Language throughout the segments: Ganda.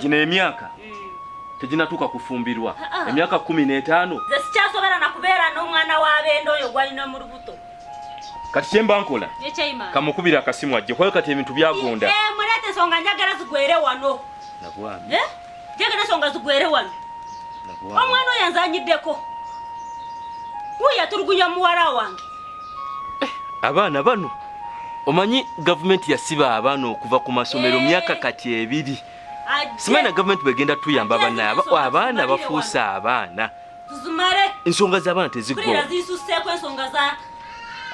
gino emyaka mm. teginatuuka kufumbirwa ah, ah. emyaka kumi n'etaano ze sikyasobera nakubeera n'omwana w'abenda oyo gwalina mu lubuto kati kyemba nkola kamukubira akasimu ajje kwayo kati ebintu byagonda eh, muleeta ensonga njagala zigwere wano nabwami eh? njagala ensonga zigwere wano omwana oyo anzanyiddeko wuyo atulugunya muwala wange abaana bano omanyi gavumenti yasiba abaana okuva ku masomero myaka kati ebiri simanyi na gavumenti bwegenda tuyamba banaye abaana bafuuse abaana ensonga z'abaana tezigwa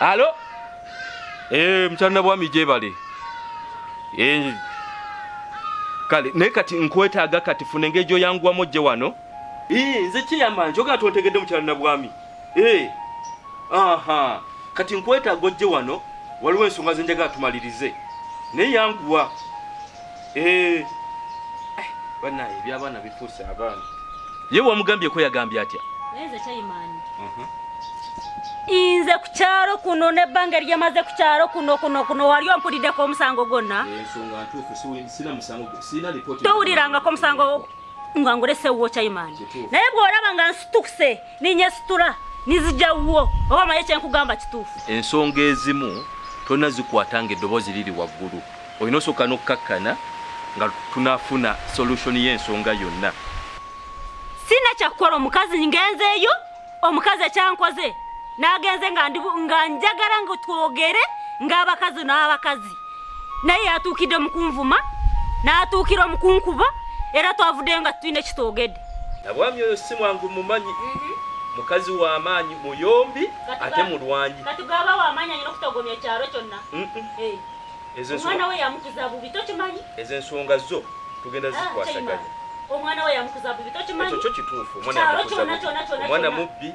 alo eh, mukyalina bwami gyebale eh, kale naye kati nkwetaaga kati funa engeri gyoyanguwamu ojje wano nze kiyamba njoga tontegedde mukyalina bwami Eh, aha kati nkwetaaga ojje wano waliwo ensonga zenjaga atumalirize naye yanguwa eh, banaye ebyabaana bifuuse abaana ye wamugambyeko yagambye atya mhm. inze ku kyalo kuno nebbanga eryemaze ku kyalo kuno kuno kuno wali ompuliddeko omusango gwonna towulirangako omusango nga ngulesewo kyaimaani naye bw'olaba nga nsitukuse ninya situra nizija wuwo oba maye kyenkugamba kituufu ensonga ezimu tolina zikwata nga eddoboozi liri waggulu olina osooka n'okukkakkana nga tunafuna solution y'ensonga yonna sina kyakukola omukazi ngenzeeyo omukazi ekyankoze nagenze nga njagala nga twogere ng'abakazi n'abakazi naye yatuukidde mu kunvuma n'atuukira mu kunkuba era twavuddeyo nga tulina ekitwogedde nabwami oyo si mwangu mumanyi mhm. mukazi w'amaanyi muyombi ate mulwanyi eh. omwana we yamukuza bubi tokimanyi ezo ensonga zo tugenda ah, zikwasaganya omwana we yamukuza bubi tokimanyi ekyo kyo kituufu omwana mubbi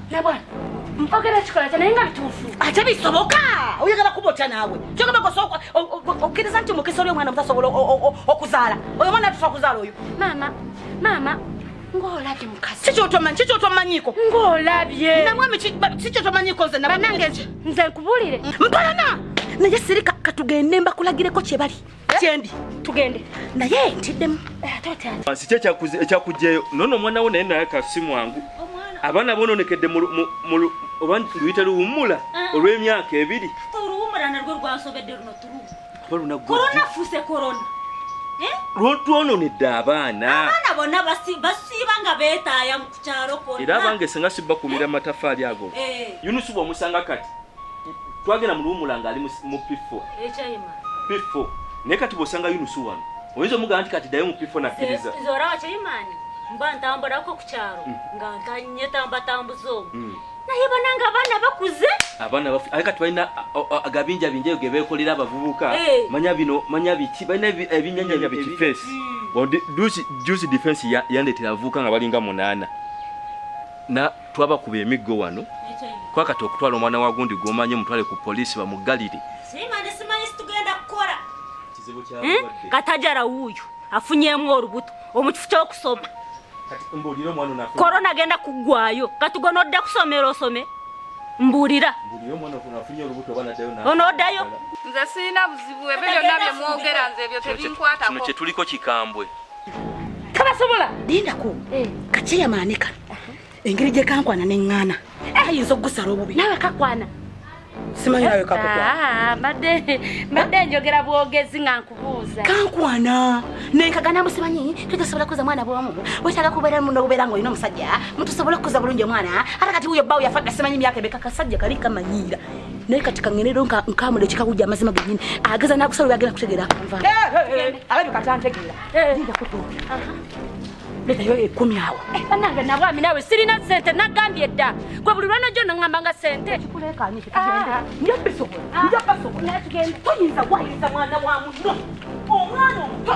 nabwana mpogera kikola kya naye nga bituufu ate bisoboka oyagala kuba otya naawe kyogamba kosooka okkiriza nti mukisa oli omwana mutasobola okuzaala oyo omwana atusa okuzaala oyo maama maama ng'olabye mukasi kikyotomanyi kikyotomanyiko ng'olabye namwami kikyotomanyiko nze nabanange nze nkubuulire mpalana naye sirika katugende mbakulagireko kye bali kyendi tugende naye ntiddemu eh, si kye ekyakugjeyo nono omwana wo naye naye kasi mwangu abaana bononekedde oba luyita luwummula ah. olw'emyaka ebiri eh? lwotwononedde abaana era abange senga sibakumira matafaali ago eh. yunusu bwomusanga kati twagenda muluwumula ngaali mu pifo pifo naye kati bwosanga yunusu wano oyinza omugamba nti kati dayo mu pifo nakkiriza mba ntamburako ku kyalo mm. nga ntanye tambatambuza omu mm. naye bananga abaana bakuze abaana bafu aye kati balina agabinja binja eyo gebeekolera abavubuka eh. manya bino manya biki balina ebinyanya bikifeesi mm. jusi defense yandetera abavubuka nga balinga munaana twabakuba emiggo wano kwakati okutwala omwana wa gundi gwomanyi omutwale ku poliisi bamuggalire hmm? katajara wuuyo afunyemu olubuto omukifo kyokusoma korona agenda kuggwayo kati gona odda kusomera osome mbuulira onoodayo nze sirina buzibu ebyo byonna byemwogera nze ebyo tebinkwatako kino kyetuliko kikambwe tabasobola lindako eh. kakyeyamaane kano engeri gye kankwana ne ŋŋaana eh. ayinza okugusala obubi nawe kakwana simanyi nawe kakukwanabadde ah, njogera bwogezi nga nkubuuza kankwana nenkaganamu simanyi tujasobola kuza mwana bwomu wetaga kubeera muno obubeera nga olina omusajja mutusobola okukuza bulungi omwana ate kati wuyo bbawo yafadda simanyi myaka ebeka kasajja kali kamanyiira naye kati kangende do nkamule kika kujja amazima genyini ageza nakusala yagenda kutegera akanva alabi katantegera jinja kutu leta yo ekumi awo banange nabwami nawe sirina sente nagambye dda gwe buli lwana jona ngamba nga sente njabisobola toyinza wayinza mwana wa muno omwana omuto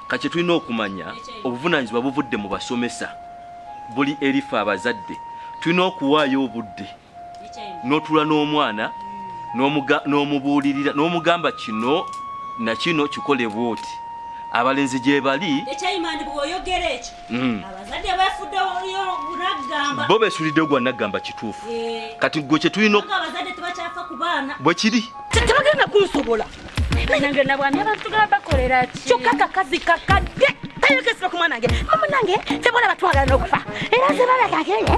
kakye tulina okumanya obuvunaanyizibwa buvudde mu basomesa buli erifa abazadde tulina okuwaayo obudde n'otula n'omwana n'omubuulirira n'omugamba kino nakino kikolebwa oti abalenzi gyebali ekyayimandibwa oyogera ekyo Mm. bo besulidde ogwa naggamba kituufu eh. kati gwe kyetulina bwekiri tebagenda kunsobola kyokka kakazi kakadde tayogezera ku mwana nge mama nange tebola batwagala n'okufa era zebalagageye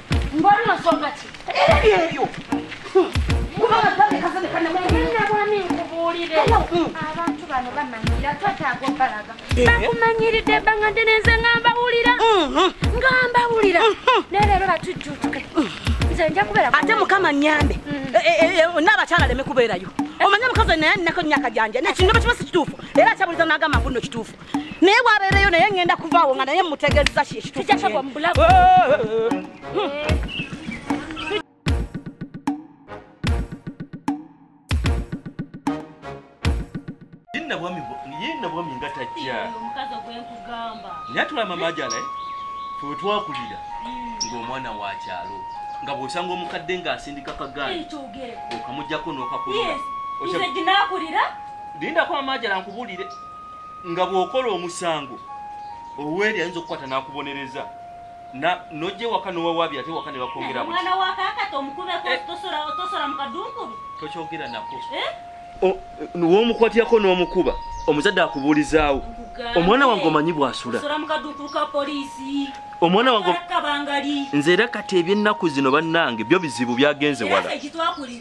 bakumanyiridde ebbanga ddene nze nga mbawulira mhm. nga mbawulira mhm. naye leero batujjuutuke nze nja kubeera ate mukama nyambe mhm. eh, eh, eh, n'abakyala leme kubeerayo omanye omukazi naye nneko nyaka gyanja nekino bakiba si kituufu era akyabuliza n'agamba mbuno kituufu naye bwabeereyo naye ŋŋenda kuvaawo nga naye mutegeeza kyekitukijasabwa mu bulago yinna bwami nga tajja nyatulama majala eh? fetwakulira hmm. ng'omwana wa kyalo nga bwosanga omukadde ng'asindika kagaali okamujjako n'okakulira lindako amajala nkubulire nga bw'okola omusango oweri ayinza okukwata n'akubonereza nojja ewaka nowawaabi ate ewaka ne bakwongeraotokyogera nako eh? womukwatirako n'omukuba omuzadde akubuulizaawo omwana wange omanyi bwasula omwana wange nze era kati eby'ennaku zino bannange byo bizibu byagenze wala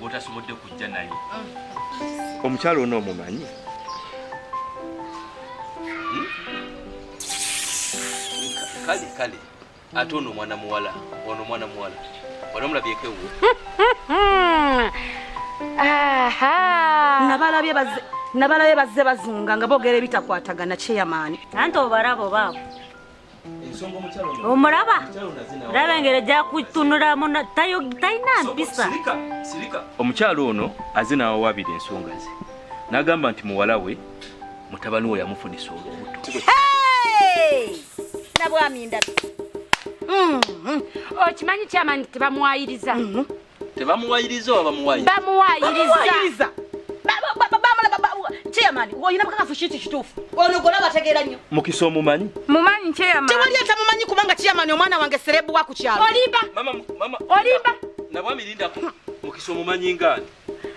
gwotasobodde kujja naye mm. omukyalo ono omumanyi hmm? kale kale ate ono omwana muwala ono omwana muwala onomulabyeko ewo nabalabye baze nabalabye bazze bazunga nga boogera ebitakwatagana kyeyamaani anti obarabo baabo omulaba laba engeri ejja kutunulamu talina mpisa omukyalo ono aze nawawabira ensonga ze nagamba nti muwala we mutabani we yamufunisa olubuto nabwami ndabi mm-hmm. okimanyi kyamani tebamwayiriza mm-hmm. tebamuwayiriza oba bamuwayiriza bamuwayiriza chairman oyina bukakafu kiki kituufu ono gona bategeera nnyo mukisa omumanyi mumanyi chairman tewali atamumanyi kubanga chairman omwana wange serebu wa ku kyalo olimba olimba nabwami lindako mukisa omumanyi ngaani